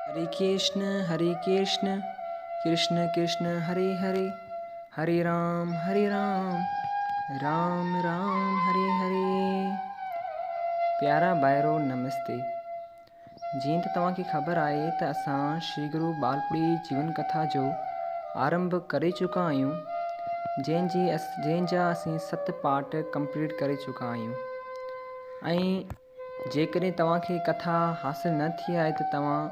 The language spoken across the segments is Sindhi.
هري ڪرشن هري ڪرشن ڪرشن ڪرشن هري هري هري رام هري رام رام رام هري هري پيارا ڀائرو نمستي جيئن ته توهان کي خبر آهي ته اسان شري گرو ٻالپڙي جيون ڪٿا جو آرنڀ ڪري چڪا آهيون جنهن جي جنهن جا اسين ست پارٽ ڪمپليٽ ڪري چڪا آهيون ۽ جيڪڏهن توهان کي ڪٿا حاصل نه ٿي آهي ته توهان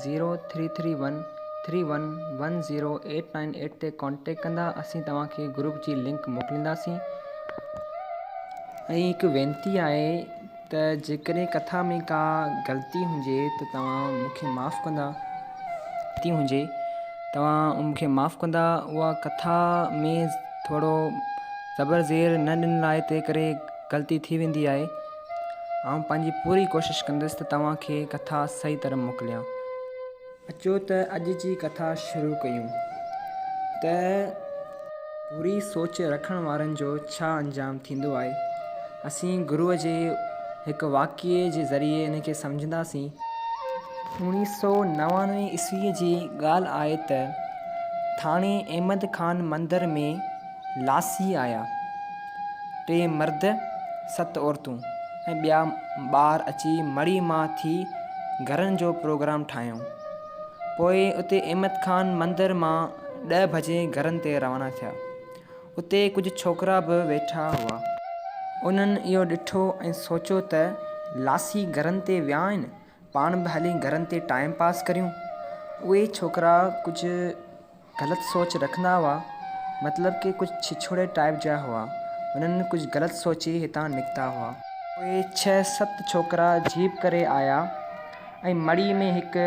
zero three three one three one one zero eight nine eight تي ڪانٽيڪٽ ڪندا اسين توهان کي گروپ جي لنڪ موڪلينداسين. ۽ هڪ وينتي آهي ته جيڪڏهن ڪٿا ۾ ڪا غلطي هجي ته توهان مون کي معاف ڪندا تي هجي توهان مون کي معاف ڪندا اها ڪٿا ۾ ٿورو زبر زير نه ڏنل آهي تنهن ڪري غلطي ٿي ويندي آهي آئون پنهنجي پوري ڪوشش ڪندس ته توهان کي ڪٿا صحيح طرح موڪليان. اچو ته اڄ جي ڪٿا شروع ڪيون ته. بري سوچ رکڻ وارن جو ڇا انجام ٿيندو آهي. اسين گروء جي هڪ واقعي جي ذريعي ان کي سمجهنداسين. اوڻيهه سؤ نوانوي عيسويء جي ڳالهه آهي ته ٿاڻي احمد خان مندر ۾. لاسي آيا، ٽي مرد، ست عورتون ۽ ٻيا ٻار اچي مڙهي مان ٿي گهرن جو پروگرام ٺاهيائون. پوء اتي احمد خان مندر مان ڏهه بجي گهرن تي روانا ٿيا. اتي ڪجهه ڇوڪرا به ويٺا هئا. انهن اهو ڏٺو ۽ سوچيو ته لاسي گهرن تي ويا آهن، پاڻ به هلي گهرن تي ٽائيم پاس ڪريون. اهي ڇوڪرا ڪجهه غلط سوچ رکندا هئا مطلب ڪي ڪجهه ڇڇوڙي ٽائيپ جا هئا انهن ڪجهه غلط سوچي هتان نڪتا هئا. اهي ڇهه ست ڇوڪرا جيپ ڪري آيا ۽ مڙي ۾ هڪ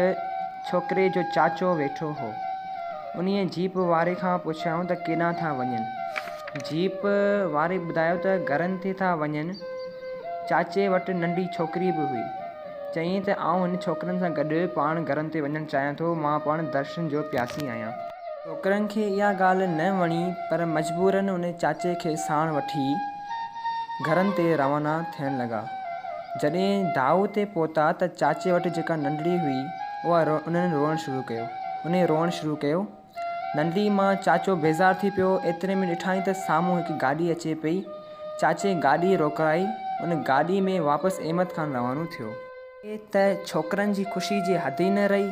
ڇوڪري جو چاچو ويٺو هو انهي جيپ واري کان پڇيائون ته ڪيڏانهن ٿا وڃن جيپ واري ٻڌايو ته گهرن تي ٿا وڃن چاچي وٽ ننڍي ڇوڪري به هئي. چيائين ته آئون هن ڇوڪرن سان گڏ پاڻ گهرن تي وڃڻ چاهيان ٿو، مان پڻ درشن جو پياسي آهيان. ڇوڪرن کي اها ڳالهه نه وڻي پر مجبوراً ان چاچي کي ساڻ وٺي گهرن تي روانا ٿيڻ لڳا. جڏهن دائو تي پهتا ته چاچي وٽ جيڪا ننڍڙي هئي اها انهن روئڻ شروع ڪيو. انهيء روئڻ شروع ڪيو. ننڍڙي مان چاچو بيزار ٿي پيو. ايتري ۾ ڏٺائين ته سامهون هڪ گاڏي اچي پئي. چاچي گاڏي روڪرائي. ان گاڏي ۾ واپس احمد خان روانو ٿيو. هتي ته ڇوڪرن جي خوشي جي حد ئي نه رهي.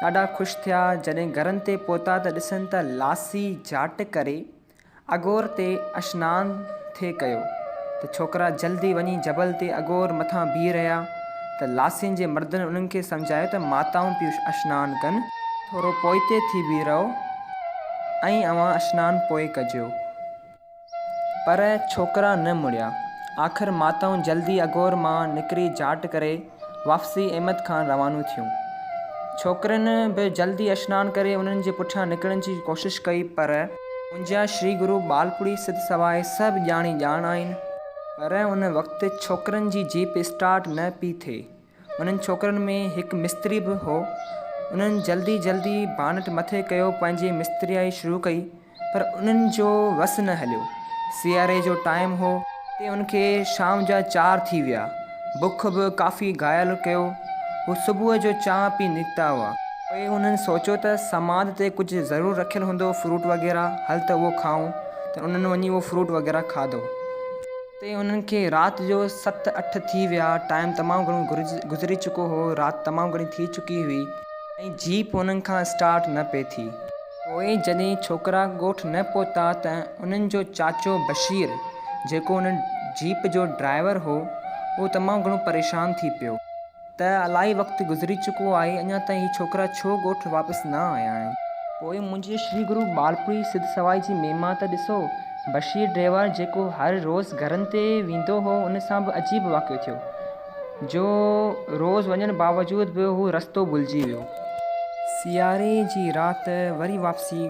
ڏاڍا خوش ٿيا. جڏهن گهرن تي پهتا ته ڏسن ته لاسي جاٽ ڪري اڳور تي اشنان ٿي ڪيو ته ڇوڪرا جلدي وڃي جبل تي اڳور مٿان بيهي رهيا ته لاسين جي مردن انهن کي سمجهايو ته ماتائون پيون اشنان ڪن، ٿورو پوئتي ٿي بيهي رهو ۽ اوهان اشنان پوء ڪجو. پر ڇوڪرا نه مڙيا. آخر ماتائون جلدي اڳور مان نڪري جاٽ ڪري. واپسي احمد کان روانو ٿيون. ڇوڪرين به جلدي اشنان ڪري انهن جي پٺيان نڪرڻ جي ڪوشش ڪئي پر. منهنجا شري گرو ٻالپوڙهي سڌ سواء سڀ ڄاڻي ڄاڻ آهن. پر ان وقت ڇوڪرين جي جيپ اسٽارٽ نه پئي ٿئي. انهن ڇوڪرين ۾ هڪ مستري به هو. انهن جلدي جلدي بانٽ مٿي ڪيو پنهنجي مستريائي شروع ڪئي. پر انهن جو وس نه هليو. سياري جو ٽائيم هو تي ان کي شام جا چار ٿي ويا. بک به ڪافي گهايل ڪيو هو. صبح جو چانهه پي نڪتا هئا. پوء انهن سوچيو ته سماڌ تي ڪجهه ضرور رکيل هوندو فروٽ وغيره هل ته اهو کائون ته انهن وڃي اهو فروٽ وغيره کاڌو. اتي انهن کي رات جو ست اٺ ٿي ويا. ٽائيم تمام گهڻو گذري چڪو هو. رات تمام گهڻي ٿي چڪي هئي ۽ جيپ انهن کان اسٽارٽ نه پئي ٿي. پوء جڏهن ڇوڪرا ڳوٺ نه پهتا ته انهن جو چاچو بشير جيڪو ان جيپ جو ڊرائيور هو اهو تمام گهڻو پريشان ٿي پيو ته الائي وقت گذري چڪو آهي اڃا تائين هي ڇوڪرا ڇو ڳوٺ واپس نه آيا آهن. پوء منهنجي شري گرو ٻالپوري سڌ سوائي جي مهما ته ڏسو. بشير ڊريور جيڪو هر روز گهرن تي ويندو هو ان سان به عجيب واقعو ٿيو. جو روز وڃڻ باوجود به هو رستو ڀلجي ويو. سياري جي رات وري واپسي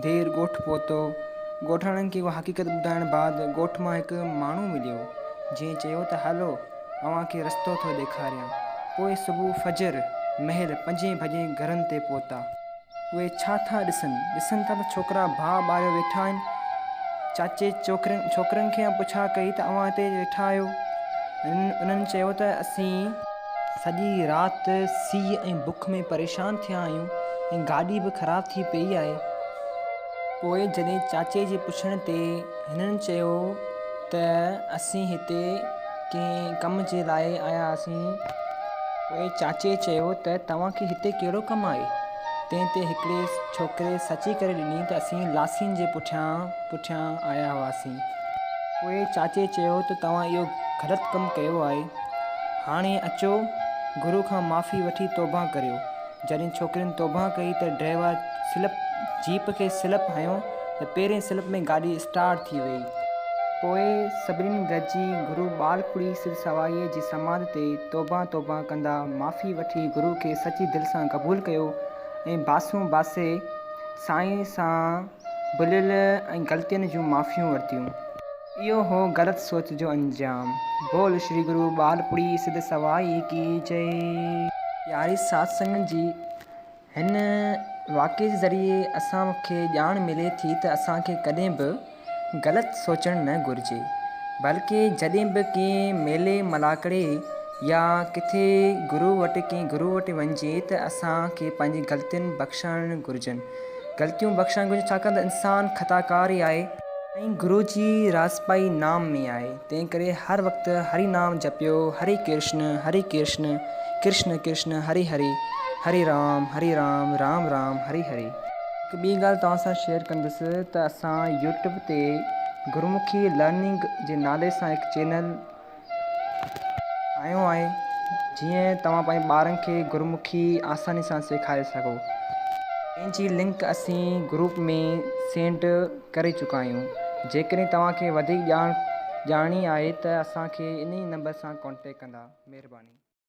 دير ڳوٺ پهتو. ڳوٺاڻن کي اها حقيقت ٻڌائڻ بعد ڳوٺ مان هڪ ماڻهو مليو، جنهن چيو ته هلو اوهان کي رستو ٿو ڏيکاريان. پوء صبح فجر مهل پنجين بجي گهرن تي پهتا. اهي ڇا ٿا ڏسن؟ ڏسن ٿا ته ڇوڪرا باهه ٻاريو ويٺا آهن. چاچي چوڪرين، ڇوڪرن کي اها پڇا ڪئي ته اوهان هتي ويٺا آهيو؟ انهن چيو ته اسين. سڄي رات سيء ۽ بک ۾ پريشان ٿيا آهيون ۽ گاڏي به خراب ٿي پيئي آهي. پوء جڏهن چاچي جي پڇڻ تي هنن چيو ته اسين هتي. ڪنهن ڪم جي لاء آيا آهيون. پوء چاچي چيو ته توهان کي هتي ڪهڙو ڪم آهي؟ تنهن تي هڪڙي ڇوڪري سچي ڪري ڏني ته اسين لاسين جي پٺيان پٺيان آيا هئاسين. پوء چاچي چيو ته توهان اهو غلط ڪم ڪيو آهي. هاڻي اچو گرو کان معافي وٺي توبه ڪريو. جڏهن ڇوڪرين توبهه ڪئي ته ڊرائيور سلپ جيپ کي سلپ هنيو ته پهرين سلپ ۾ گاڏي اسٽارٽ ٿي ويئي. پوء سڀني گڏجي گرو ٻالکڙي سڌ سوائيء جي سماڌ تي توبهه توبهه ڪندا معافي وٺي گرو کي سچي دل سان قبول ڪيو ۽ باسون باسي سائين سان ڀليل ۽ غلطين جون معافيون ورتيون. اهو هو غلط سوچ جو انجام. بول شري گرو ٻالپڙي سڌ سوائي ڪي جئي. ياري ساٿ سنگت جي هن واقعي جي ذريعي اسان کي ڄاڻ ملي ٿي ته اسان کي ڪڏهن به غلط سوچڻ نه گهرجي بلڪه جڏهن به ڪنهن ميلي ملاکڙي يا ڪٿي گرو وٽ ڪنهن گرو وٽ وڃجي ته اسان کي پنهنجي غلطين بخشڻ گهرجن. غلطيون بخشڻ گهرجن ڇاڪاڻ ته انسان خطا ڪار ئي آهي. سائين گرو جي راز پائي نام ۾ آهي تنهن ڪري هر وقت هري نام جپيو هري ڪرشن هري ڪرشن ڪرشن ڪرشن هري هري هري رام هري رام رام رام هري هري. هڪ ٻي ڳالهه توهان سان شيئر ڪندس ته اسان يوٽيوب تي گرمکي لرننگ جي نالي سان هڪ چينل آيو آهي جيئن توهان پنهنجي ٻارن کي گرمکي آساني سان سيکاري سگهو جنهن جي لنڪ اسين گروپ ۾ سينڊ ڪري چڪا آهيون جيڪڏهن توهان کي وڌيڪ ڄاڻ ڄاڻڻي آهي ته اسان کي انهي نمبر سان ڪانٽيڪٽ ڪندا مهرباني.